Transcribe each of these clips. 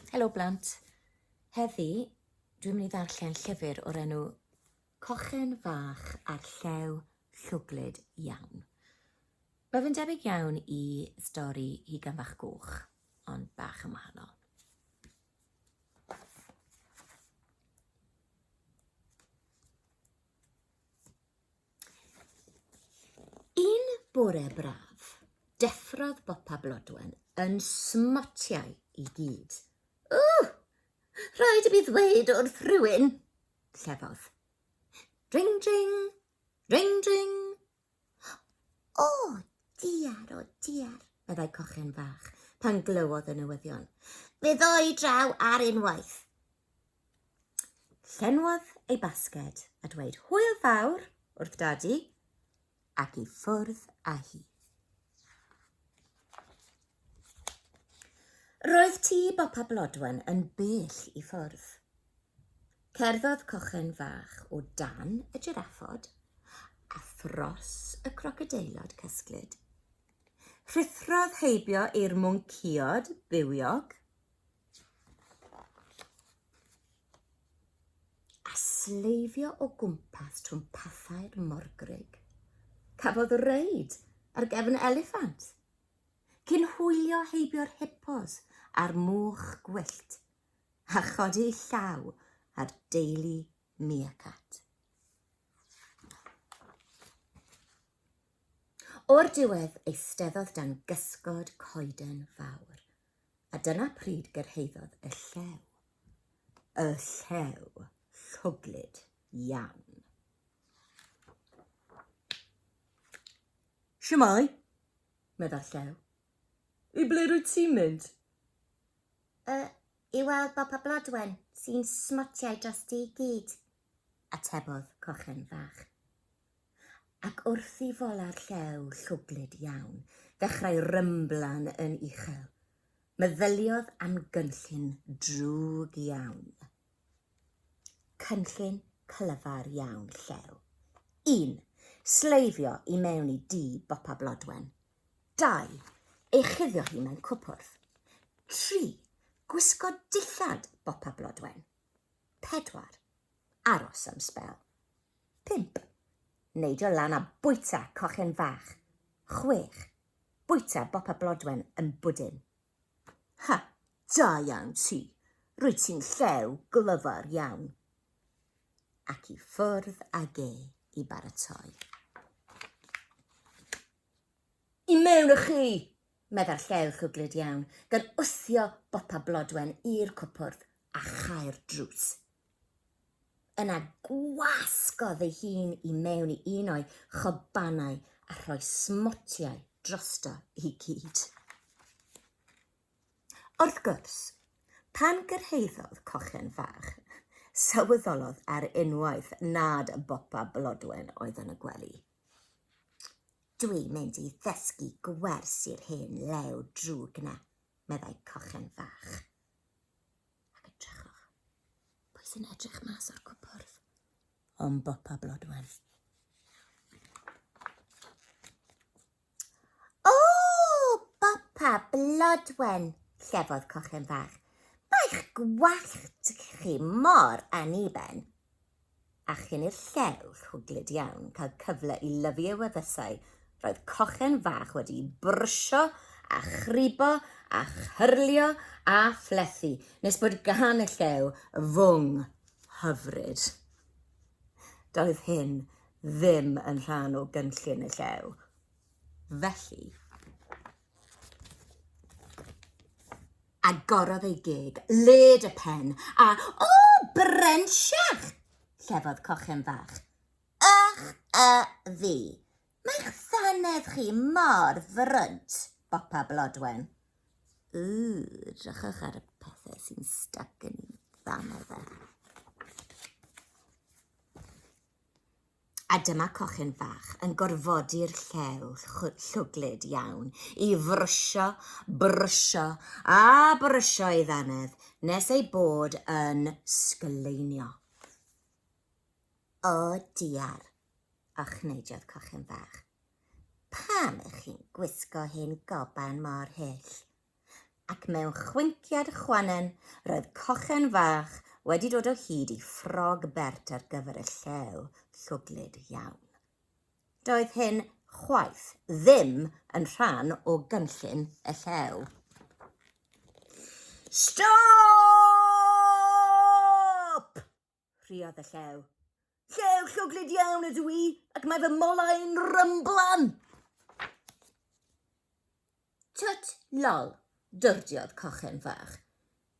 Helo blant. Heddi, dwi'n mynd i ddarllen llyfr o'r enw Cochyn Fach a'r Llew Llwglyd Iawn. Mae fe'n debyg iawn i stori Hugan Fach Goch, ond bach yn wahanol. Un bore braf, deffrodd Bopa Blodwen yn smotiau i gyd. O! Rhaid i mi ddweud wrth rhywun, llefodd. Ring, ring, ring, ring. O, diar, o, diar, meddai cochen fach pan glywodd y newyddion. Fe ddoi draw ar unwaith. Llenwodd ei basged a dweud hwyl fawr wrth dadi ac i ffwrdd â hi. Roedd tŷ Bopa Blodwen yn bell i ffwrdd. Cerddodd cochen fach o dan y giraffod a thros y crocodeilod cysglyd. Rhuthrodd heibio i'r mwncïod bywiog a sleifio o gwmpas trwm pathau'r morgrug. Cafodd reid ar gefn eliffant, cyn hwylio heibio'r hippos a'r mwch gwyllt, a chodi llaw ar deulu miacat. O'r diwedd eisteddodd dan gysgod coeden fawr. A dyna pryd gyrhaeddodd y llew. Y llew llwglyd iawn. Siamai, meddai'r llew. I ble rwyt ti'n mynd? Y, I weld Bopa Blodwen, sy'n smotiau dros di gyd, atebodd cochen fach. ac wrth i folar llew llwglyd iawn ddechrau rymblan yn uchel, meddyliodd am gynllun drwg iawn. Cynllun clyfar iawn llew. Un, Sleifio i mewn i dŷ bopa blodwen. Dau, Ei chuddio hi mewn cwpwrdd. Tri, Gwisgo dillad bopa blodwen. Pedwar, Aros am sbel. 5. Neidio lan a bwyta cochyn fach. 6. Bwyta bopa blodwen yn bwdin. Ha! Da iawn ti! Rwyt ti'n llew glyfar iawn! Ac i ffwrdd ag e i baratoi. I mewn â chi! meddai'r llew llwglyd iawn, gan wthio bopa blodwen i'r cwpwrdd a chau'r drws. Yna gwasgodd ei hun i mewn i un o'i chobanau a rhoi smotiau drosto i gyd. Wrth gwrs, pan gyrhaeddodd cochen fach, sylweddolodd ar unwaith nad bopa blodwen oedd yn y gwely. Dwi'n mynd i ddysgu gwers i'r hen lew drwg na, meddai cochen fach. Ac edrychwch, pwy sy'n edrych mas o'r cwpwrdd? Ond Bopa Blodwen. O, Bopa Blodwen, llefodd cochen fach. Mae'ch gwallt chi mor aniben. a chyn i'r llew rhwglyd iawn cael cyfle i lyfu ei wefusau, roedd cochen fach wedi'i brwsio a chribo a chyrlio a phlethu nes bod gan y llew fwng hyfryd. Doedd hyn ddim yn rhan o gynllun y llew, felly. Agorodd ei geg, led y pen, a, O, brensiach! llefodd cochen fach. Ych a fi! Mae'ch ddannedd chi mor frwnt! bopa Blodwen. Ww, drychwch ar y pethau sy'n styc yn i ddannedd e. A dyma cochyn fach yn gorfodi'r llew llwglyd iawn i frwsio, brwsio a brwsio ei ddannedd nes ei bod yn sgleinio. O diar! ochneidiodd cochyn fach. Pam ych chi'n gwisgo hyn goban mor hyll? ac mewn chwinciad chwannen roedd cochen fach wedi dod o hyd i ffrog bert ar gyfer y llew llwglyd iawn. Doedd hyn chwaith ddim yn rhan o gynllun y llew. Stop! Rhuodd y llew. Llew llwglyd iawn ydw i, ac mae fy molau'n rymblan! Twt, lol, dyrdiodd cochen fach.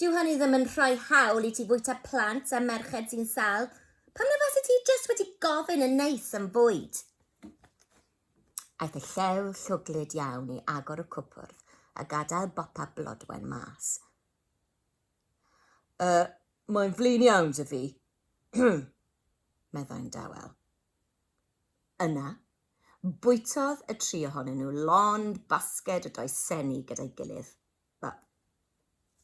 Dyw hynny ddim yn rhoi hawl i ti fwyta plant a merched sy'n sal. Pam na fase ti jyst wedi gofyn yn neis am fwyd? Aeth y llew llwglyd iawn i agor y cwpwrdd a gadael bopa blodwen mas. Y, mae'n flin iawn 'da fi, meddai'n dawel. Yna, bwytodd y tri ohonyn nhw lond basged o dai seni gyda'i gilydd. Wel,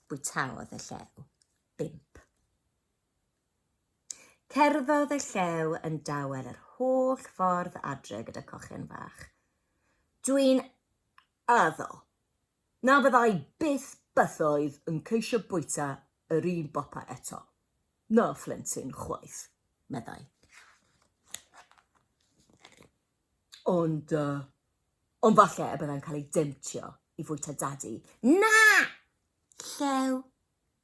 bwytaodd y llew bump. Cerddodd y llew yn dawel yr holl ffordd adre gyda cochyn fach. Dwi'n addo, Na fyddai byth bythoedd yn ceisio bwyta yr un bopa eto. Na phlentyn chwaith, meddai. Ond, uh, ond falle y byddai'n cael ei demtio i fwyta dadi. Na! Llew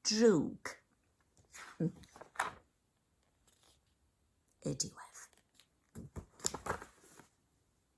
drwg. y diwedd.